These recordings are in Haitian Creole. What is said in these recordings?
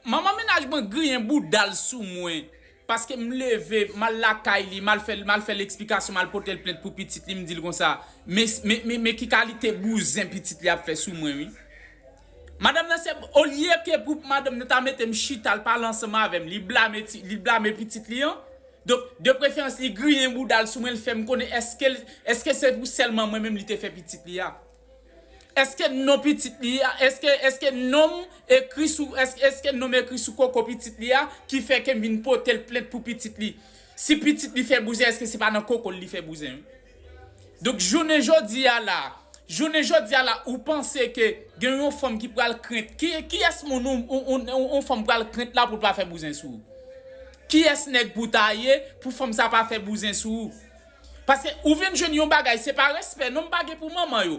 Manman mennaj mwen griyen bouda l sou mwen paske m leve m al lakay li m al fè m al fè l eksplikasyon m al pote l plent pou pitit li m di l konsa men men men ki kalite bouzen pitit li ap fè sou mwen wi Madanm nan se olye ke pou madanm nan ta mete m chita l pale ansanm avè m li blame ti li blame pitit li an donk de preferans li griyen bouda l sou mwen l fè m konnen èske l èske se pou sèlman mwen menm li te fè pitit li a. Eske non pitit li a, eske, eske nonm ekri sou, eske, eske nonm ekri sou koko pitit li a ki fè ke m vin pote l plent pou pitit li? Si pitit li fè bouzen eske se pa nan koko l li fè bouzen? Donk jounen jodi a la, jounen jodi a la ou panse ke gen yon fanm ki pral krent, ki, kiyès moun ou, ou, ou, yon fanm pral krent la pou l pa fè bouzen sou ou? Kiyès nèg pou w ta ye pou fanm sa pa fè bouzen sou ou? Paske ou vin jwenn yon bagay se pa respè non m pa gen pou manman yo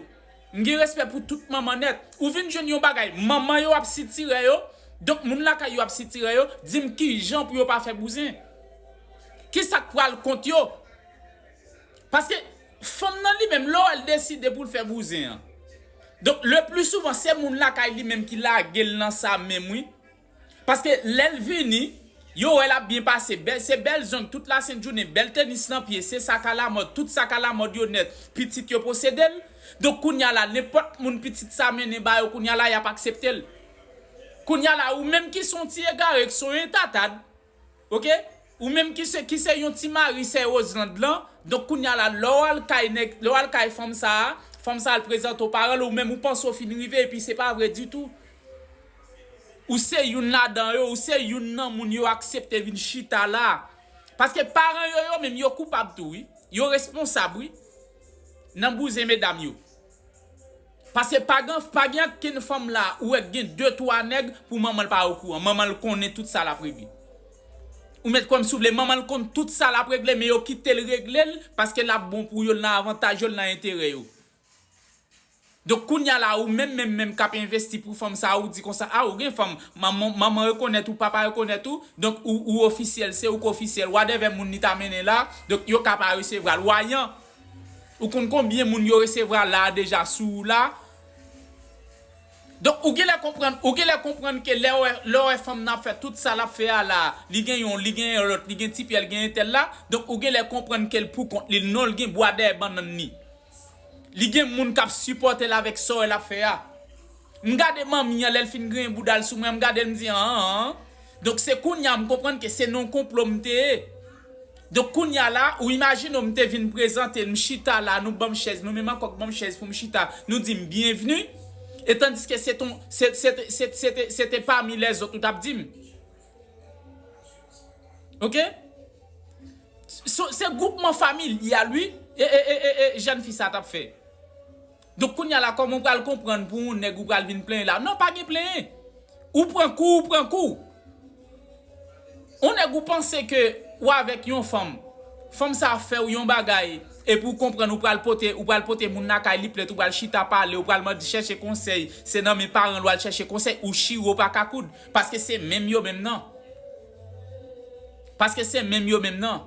m gen respè pou tout manman nèt ou vin jwenn yon bagay manman yo ap sitirè yo donk moun lakay yo ap sitirè yo di m kijan pou yo pa fè bouzen kisa k pral kont yo paske fanm nan li menm lè w wè l deside pou l fè bouzen an donk le pli souvan se moun lakay li menm ki lage l nan sa menm wi Paske lèl vini Yo wèl ap byen pase bèl se bèl zong tout la sent jounen bèl tenis nan pye se sak a la mòd tout sak a la mòd yo nèt pitit yo posedel donk kounya la nenpòt moun pitit sa mennen ba yo kounya la yap akseptel kounya la ou menm ki son ti egare k son entatad Ok ou menm ki se ki se yon ti mari sè Roselande lan donk kounya la lè w al kay nèg lè w al kay fanm sa a fanm sa a al prezante w paran l ou menm ou panse w fin rive epi se pa vre ditou ou se youn ladan yo ou se youn nan moun yo aksepte vin chita la paske paran yo yo menm yo koupab tou wi yo responsab wi nan bouzen medam yo Paske pa gen pa gen ankenn fanm la ou wè k gen 2 3 nèg pou manman l pa okouran manman l konnen tout sa lap regle ou met kwè m si w vle manman l konn tout sa lap regle men yo kite l regle l paske lap bon pou yo l nan avantaj yo l nan enterè yo donk kounya la ou menm menm menm kap envesti pou fanm sa ou di konsa a ou gen fanm manman rekonèt ou papa rekonèt ou donk ou ofisyèl se ou k ofisyèl wadèvè moun li ta mennen la donk yo ka pa resevra l wa yan Ou konn konbyen moun yo resevra la a deja sou ou la? Donk ou genlè konprann, ou genlè konprann ke lè wè, lè w wè fanm nan ap fè tout sa lap fè a la a, li gen yon, li gen yon lòt, li gen ti pyel, gen entèl la, donk ou genlè konprann ke l pou kont li, non l gen bwa dèyè bannann li. Li gen moun kap sipòte l avèk sa w wè lap fè a. M gade manmi an lè l fin griyen bouda l sou mwen, m gade l m di an an an. Donk se kounye a m konprann ke se nan yon konplo m te ye. Donk kounye a la, ou imajine w m te vin prezante l, m chita la, nou ban m chèz, nou menm ankò k ban m chèz pou m chita, nou di m byenvni, e tandiske se ton, se, se te, se, se te, se te pami lèzòt ou t ap di m. Ok? Se, se gwoupman familyal wi e, e, e, e, e jèn fi sa a t ap fè. Donk kounya la kòman ou pral konprann pou yon nèg ou pral vin plenyen la non pa gen plenyen ou pran kou ou pran kou yon nèg ou panse ke ou avèk yon fanm fanm sa fèw yon bagay epi ou konprann ou pral pote ou pral pote moun lakay li plent ou pral chita pale ou pral mande chèche konsèy se nan men paranl wal chèche konsèy ou chire ou paka koud paske se menm yo menm nan paske se menm yo menm nan.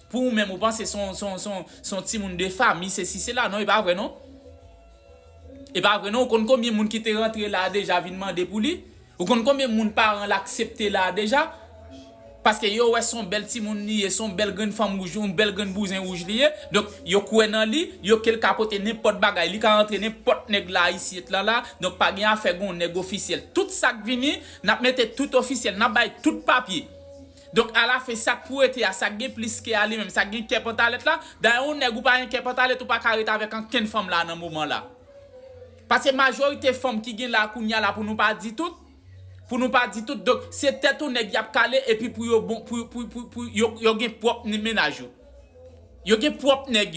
Pou ou menm ou panse son timoun de fami sesi sela non e pa vre non e pa vre non ou konn konbyen moun ki te rantre la deja vin mande pou li ou konn konbyen moun paran l aksepte la deja paske yo wè son bèl timoun li ye son bèl grenn fanm wouj yon bèl grenn bouzen wouj li ye donk yo kwè nan li yo ke l ka pote nenpòt bagay li ka rantre nenpòt nèg la isyit lan la donk pa gen afè gon nèg ofisyèl tout sa k vini n ap mete tout ofisyèl n ap bay tout papye Donk alafen sak pou rete a sak gen plis kè a li menm sak gen kè pantalèt la, dayè yon nèg ou pa gen kè pantalèt ou pa ka ret avèk ankenn fanm la nan moman la. Paske majorite fanm ki gen la kounya la pou nou pa di tout, pou nou pa di tout donk se tèt yon nèg yap kale epi pou yo bon pou pou pou yo gen pwòp mennaj yo. Yo gen pwòp nèg yo.